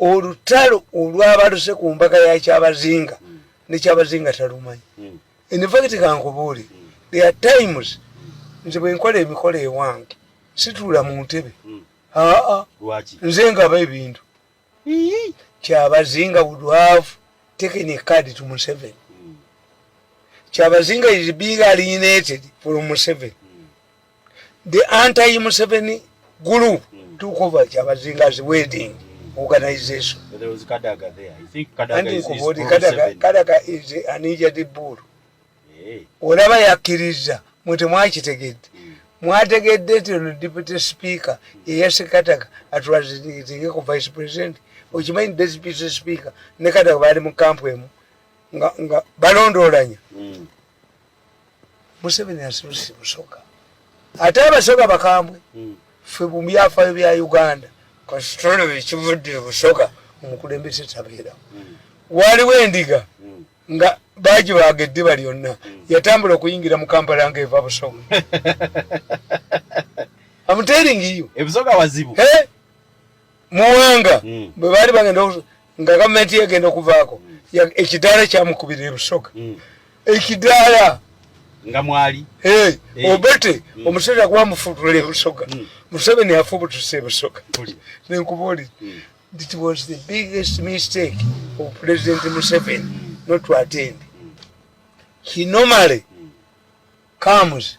olutalo olwabaluse ku mbaga ya kyabazinga mm. ne kyabazinga talumanyi mm. infact kankubuuli mm. there are times nze bwenkola emikolo ewange situula mu ntebe mm. aa nze ngaba ebintu kyabazinga would have taken a card to museveni mm. kyabazinga is being alienated from museveni the anti museveni group mm. took over kyabazinga's wedding organization kadaga is an injured bull eh. olaba yakkiriza mwe temwakitegedde mm. mwategedde nti ono deputy speaker yeyasekataka atulazitinge ku vice president okimanyi deputy speaker ne kataka baali mu kampu emu nga balondoolanya mm. museveni asibisi musoka ate abasoga bakambwe hmm. fe mubyafayo bya uganda kasitolo ekivudde busoga omukulembeze tabeera hmm. waliwo endiga hmm. nga baji baga eddiba lyonna yatambula okuyingira mu kampala nga eva busoga amuteringiyo ebusoga wazibu muwanga mm. bwe baali bagenda nga gavumenti yegenda okuvaako mm. ekidaala kyamukubira ebusoga mm. ekidaala nga mwali eh. obete omusajja gwamufutula ebusoga museveni afubutusa ebusoga nenkubaoli it was the biggest mistake of president museveni not to attend he normally comes